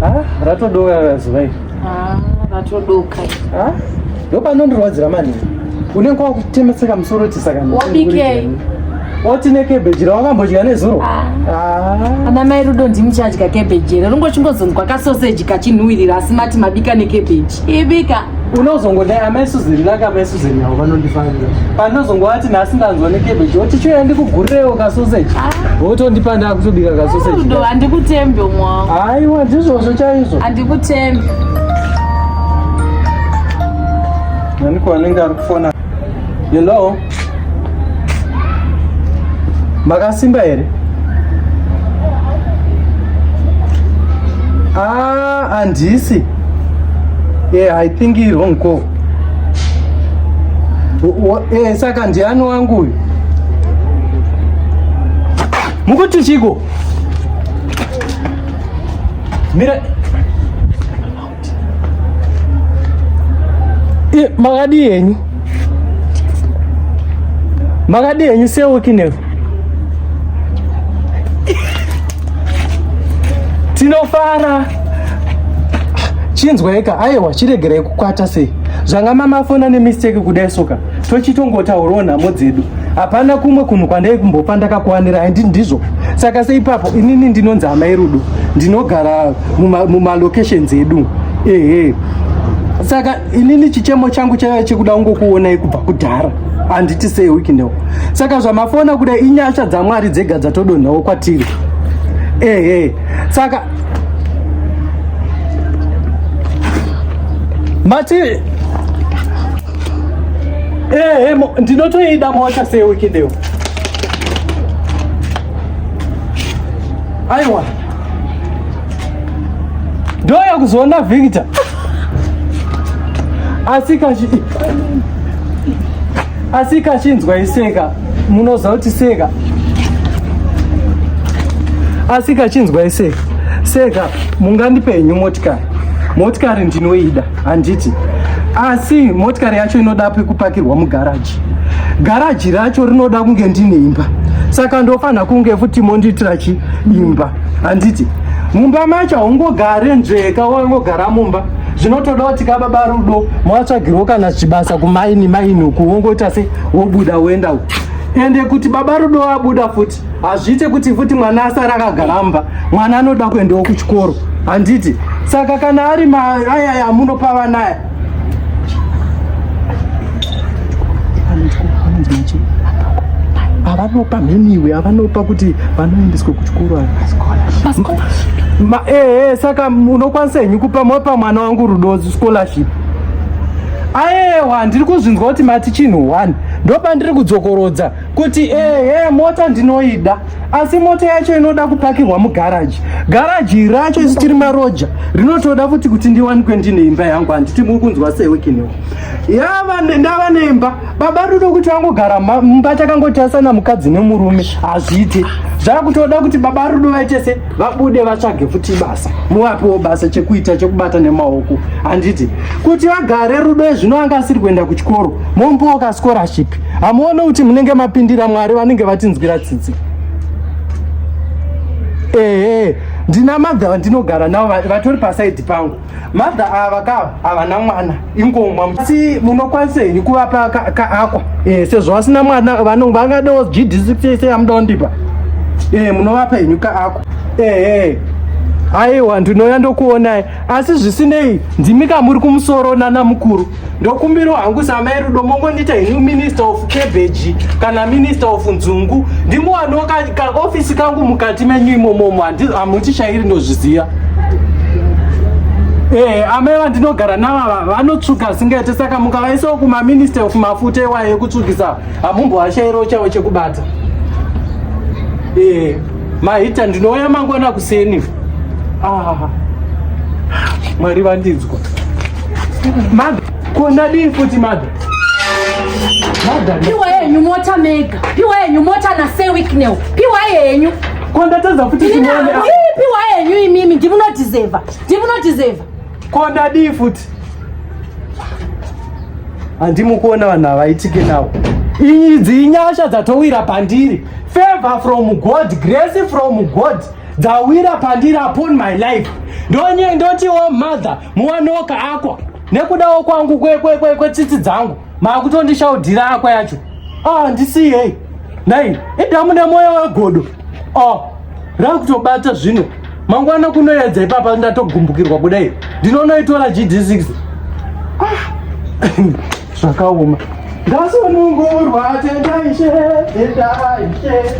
Ah, ratodoka zuva iri. Ah, ratodoka. Ah, ndopanondirwadzira mani. Unenge wakutemeseka musoro kuti saka. Wabikei? Woti nekebheji rawakambodya nezuro? Ah. ah. Ana mai Rudo ndimuchadya kebheji here? Rungochingozondwa kasoseji kachinhuwirira asi mati mabika nekebheji. Ibika. unozongodai amai suzeni lake amai suzeni avo vanondifanira pandinozongovati nhasi ndanzwa nekebeji woti choya ndikugurirewo kasoseji ah. wotondipa ndakutobika kasoseji handikutembe umwe wangu haiwa ndizvozvo chaizvo handikutembe aniko anenge ari kufona You know. Makasimba here? Ah, andisi. Yeah, I think you're wrong call. Eh, saka ndiani wangu uyu? Mukuti chiko? Mira Eh, makadii henyu makadii henyu seukineku tinofara chinzwaika aiwa chiregerai kukwata sei zvanga mamafona nemisteki kudai soka tochitongotaurawo nhamo dzedu hapana kumwe kunhu kwandai kumbopa ndakakuwanira handi ndizvo saka seipapo inini ndinonzi hamai rudo ndinogara mumalocations muma edu ehe saka inini chichemo changu chaiva chekuda ungokuonai kubva kudhara handiti sei wikinewo saka zvamafona kuda inyasha dzamwari dzega dzatodonhawo kwatiri ehe saka mati Ehe, eh, mo- ndinotoida mota seweekend iyo. Aiwa. Ndoya kuzoona Victor. Asi kachi Asi kachinzwa iseka, munoziva kuti seka. Asi kachinzwa iseka. Seka, mungandipe henyu motikari. Motikari ndinoida. handiti asi motikari yacho inoda pekupakirwa mugaraji garaji racho rinoda kunge ndine imba saka ndofanira kunge futi mondiitira chi imba handiti mumba macho haungogare nzveka wangogara mumba zvinotoda kuti ka baba rudo mwatsvagirwo kana chibasa kumaini maini uku wongoita se wobuda woenda uku ende kuti baba rudo wabuda futi hazviite kuti futi mwana asara akagaramba mwana anoda kuendawo kuchikoro handiti saka kana ari maayaya amunopa vana aya avanopa mheniwe avanopa kuti vanoendeswa kuchikoro ehe eh, saka unokwanisa henyu kupa mopa mwana wangu rudo scholarship aewa ndiri kuzvinzwa kuti mati chinhu one ndopandiri kudzokorodza kuti ehe mota ndinoida asi mota yacho inoda kupakirwa mugaraji garaji racho isu tiri maroja rinotoda futi kuti ndiwanikwe ndine imba yangu handiti muri kunzwa sewekinewo yava ndava neimba baba rudo kuti vangogara mumba takangotasana mukadzi nemurume hazviite zvakutoda kuti baba rudo vaite se vabude vatsvage futi basa muvapiwo basa chekuita chekubata nemaoko handiti kuti vagare rudo ezvino anga asiri kuenda kuchikoro momboka scholarship hamuone kuti munenge mapindira mwari vanenge vatinzwira tsitsi ehe ndina madha vandinogara navo vatori pasaidi pangu madha ava ka havana mwana ingomwa asi munokwanisa henyu kuvapa kaakwa e, sezvo vasina mwana vangadewo gdcse yamuda kundipa e, munovapa henyu kaakwa ehe aiwa ndinouya ndokuonai asi zvisinei ndimi kamuri kumusoro nana mukuru ndokumbiro hangu samai rudo mongondiita ini minister of cabbage kana minister of nzungu ndimuwaniwo kaofisi kangu mukati menyu imomomo hamutishairi ndozviziva ee eh, amai vandinogara navava vanotsvuka zvingaite saka mukavaisawo kumaminister of mafuta iwayo ekutsvukisa hamumbovashairawo chavo chekubata ee eh, mahita ndinouya mangwana kuseni ah, mwari vandinzwa Mother, kunadii futi mother? Mother. Piwa yenyu mota mega. Piwa yenyu mota na say weeknell. Piwa yenyu. Kondatadza futi chimone. Piwa yenyu imimi ndimuno deserve. Ndimuno deserve. Konadii futi? Andimukuona vanhu havaitike nawo. Idzi inyasha dzatowira pandiri. Favor from God, grace from God. Dzawira pandiri upon my life. Ndonye ndoti oh mother. muwanoka akwa nekudawo kwangu kwetsitsi dzangu maakutondishaudhira akwa yacho ah, ndisiyei nai idamu nemoyo wegodo ah, rakutobata zvino mangwana kunoyedza ipapa ndatogumbukirwa kudai ndinonoitora gd6 ah, zvakaoma ngasunungurwa tendaishe tendaishe